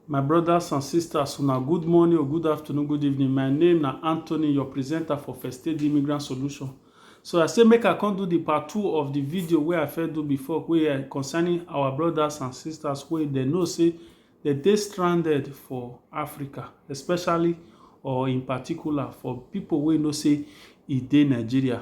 My brothers and sisters, una good morning or good afternoon, good evening. My name na Anthony, your presenter for First Aid Immigrant Solution. So I say make I come do the part two of the video wey I first do before wey uh, concerning our brothers and sisters wey dem know say dem dey stranded for Africa, especially or in particular for people wey know say e dey Nigeria.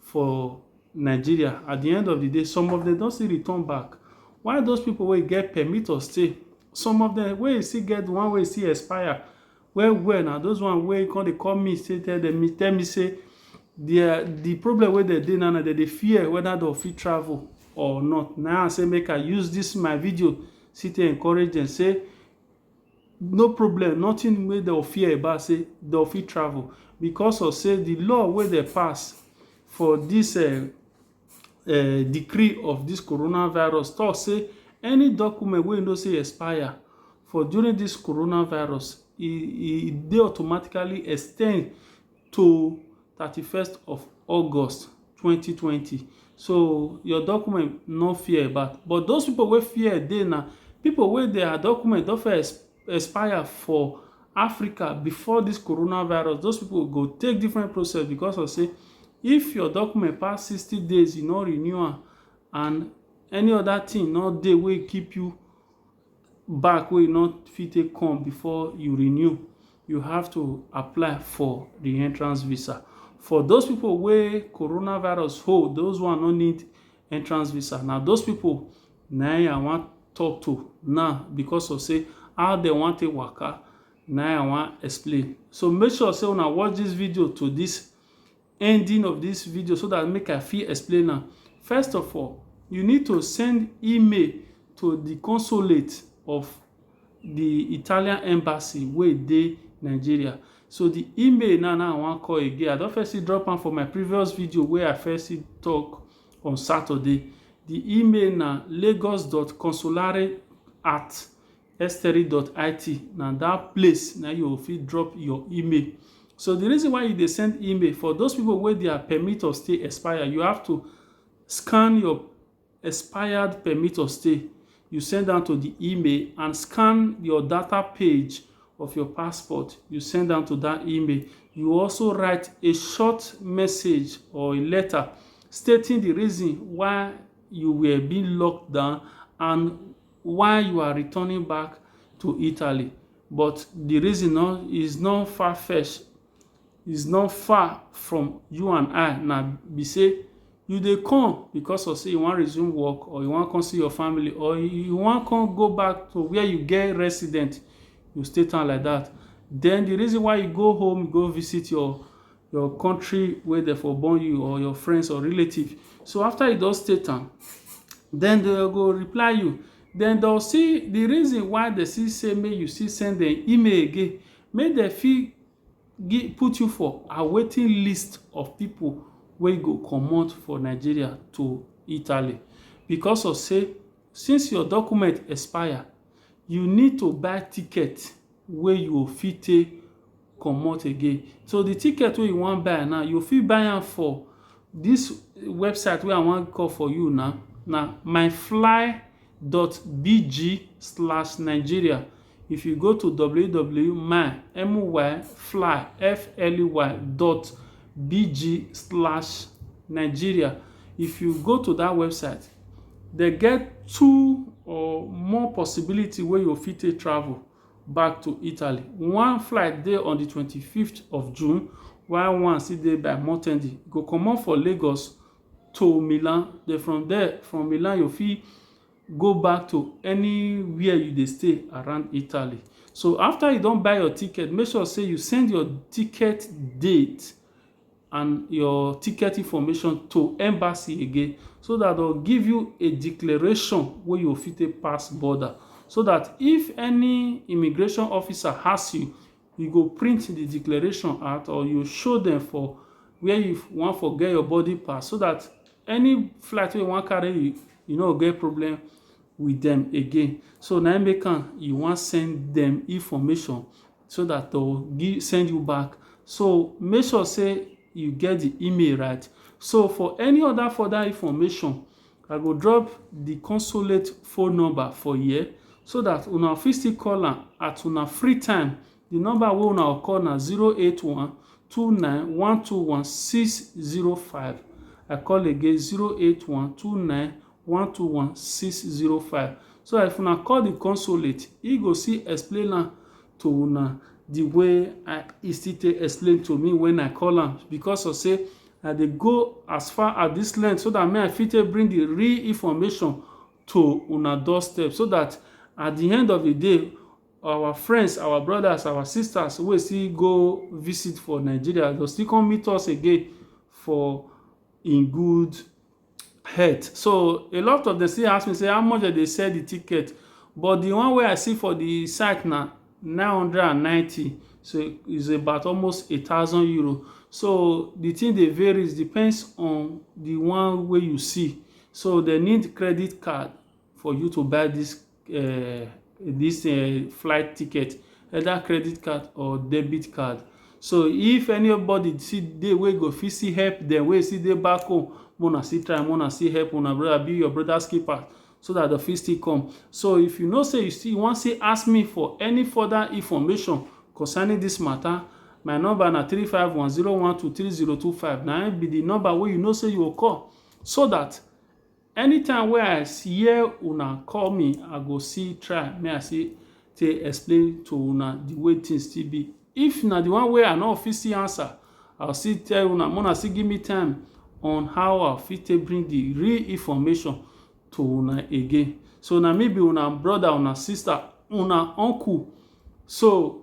for Nigeria at the end of the day some of them don still return back why those people wey get permit to stay some of them wey still get the one wey still expire well well na those one wey come dey call me say tell them me tell me say their the problem wey dem dey now na dem dey fear whether dem fit travel or not na I say make I use this my video still to encourage them say no problem nothing wey dem fear about sey dem fit travel because of sey de law wey dem pass for dis um decree of dis corona virus talk sey any document wey you know sey e expire for during dis corona virus e e dey automatically extend to thirty first of August twenty twenty so your document no fear about but those people wey fear dey na people wey their document don first expire for Africa before this coronavirus those people go take different process because of say if your document pass sixty days you no renew am and any other thing no dey wey keep you back wey you no fit take come before you renew, you have to apply for the entrance visa. For those pipu wey corona virus hold, those one no need entrance visa. Na those pipu na im I wan talk to now because of sey how de wan take waka na im I wan explain. So, make sure sey una watch dis video to dis ending of this video so that make I fit explain am. First of all, you need to send email to the consulate of the Italian embassy wey dey Nigeria. So the email now now I wan call again. I don first see drop am for my previous video wey I first see talk on Saturday. The email na lagos.consulare at Estery.it na that place na you fit drop your email. So the reason why you dey send email for those people wey their permit of stay expire, you have to scan your expired permit of stay. You send am to the email and scan your data page of your passport. You send am to that email. You also write a short message or a letter stating the reason why you were being locked down and why you are returning back to Italy but the reason no is not far fetch is not far from you and I na be say you dey come because of say you wan resume work or you wan come see your family or you wan come go back to where you get resident you state am like that then the reason why you go home go visit your your country wey dem for born you or your friends or relative so after you don state am then they go reply you then they'll see the reason why they see say make you see send them email again make they feel give put you for a waiting list of people wey go comot for nigeria to italy because of say since your document expire you need to buy ticket wey you go fit take comot again. So the ticket wey you wan buy now, you fit buy am for this website wey I wan call for you now, na myfly.bg slash Nigeria. If you go to www.my, M-Y, fly, F-L-Y dot B-G slash Nigeria. If you go to that website, dey get two or more possibility wey you fit take travel back to Italy. One flight dey on the twenty fifth of June while one still dey by Mortendi. You go comot for Lagos to Milan then from there from Milan you fit go back to anywhere you dey stay around Italy. So after you don buy your ticket make sure sey you send your ticket date and your ticket information to embassy again so that they'll give you a declaration where you fit a pass border so that if any immigration officer has you you go print the declaration out or you show them for where you want for get your body pass so that any flight you want carry you you no get problem with them again so now make am you want send them information so that to give send you back so make sure say you get the email right so for any other further information i go drop the consulate phone number for here so that una fit still call am at una free time the number wey una go call na 081 29 121 605 i call again 081 29 121605 so that if una call the consulate he go see explain am to una the way I, he still take explain to me when I call am because of say I dey go as far as this length so that me I fit take bring the real information to una doorstep so that at the end of the day our friends our brothers our sisters wey still go visit for Nigeria go still come meet us again for in good het. So, a lot of dem still ask me sey how much dem dey sell the ticket but the one wey I see for the site na nine hundred and ninety so is about almost a thousand euro. So, the thing dey varies depends on the one wey you see. So, dem need credit card. for you to buy this uh, this uh, flight ticket either credit card or debit card so if anybody see dey wey go fit see help dem wey see dey back home mona see try mona see help una brother be your brother's keeper so that the fit still come so if you know say you still wan still ask me for any further information concerning this matter my number na three five one zero one two three zero two five na be the number wey you know say you go call so that Anytime wey I hear una call me, I go still try make I still take explain to una the way things still be. If na the one wey I no fit still answer, I go still tell una make una still give me time on how I fit take bring the real information to una again. So na me be una brother, una sister, una uncle. So